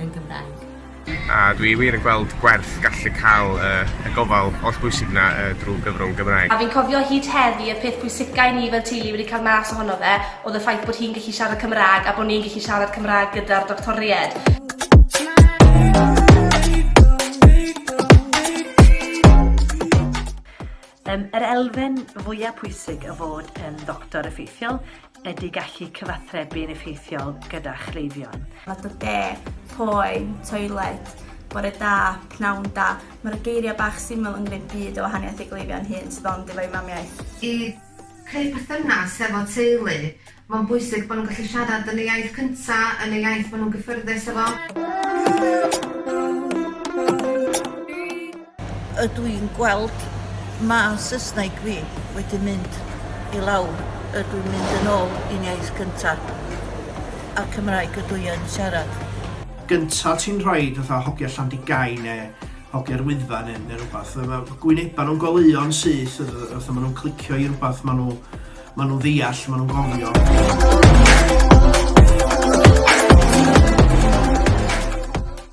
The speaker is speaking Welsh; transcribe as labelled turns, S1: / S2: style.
S1: yn Gymraeg. A dwi
S2: wir yn gweld gwerth gallu cael y, y gofal oll bwysig na uh, drwy gyfrwng Gymraeg. A fi'n cofio hyd
S3: heddi y peth pwysica i ni fel teulu wedi cael mas ohono fe oedd y ffaith bod hi'n gallu siarad Cymraeg a bod ni'n gallu siarad Cymraeg gyda'r doctoried.
S4: Yym, yr elfen fwya' pwysig o fod yn ddoctor effeithiol ydy gallu cyfathrebu'n effeithiol gyda chleifion. Mae dy de,
S5: poen, toiled, bore da, pnawn da, mae'r geiriau bach syml yn gwneud byd o wahaniaeth i gleifion hŷn sydd ond efo'u mamiaith. I
S6: creu perthynas hefo teulu Mae'n bwysig
S7: bod nhw'n gallu siarad yn y iaith cynta, yn y iaith maen nhw'n gyffyrddus efo. Ydw i'n gweld ma Saesneg fi wedi mynd i lawr, ydw i'n mynd yn ôl i'n iaith cynta, a Cymraeg ydw i yn siarad. gynta
S8: ti'n rhoid fatha hogia Llandigai ne hogia'r Wyddfa ne ne rwbath ma ma gwyneba nhw'n goleuo'n syth fatha ma nhw'n clicio i rwbath ma nhw Ma' nhw'n ddeall, ma' nhw'n gofio.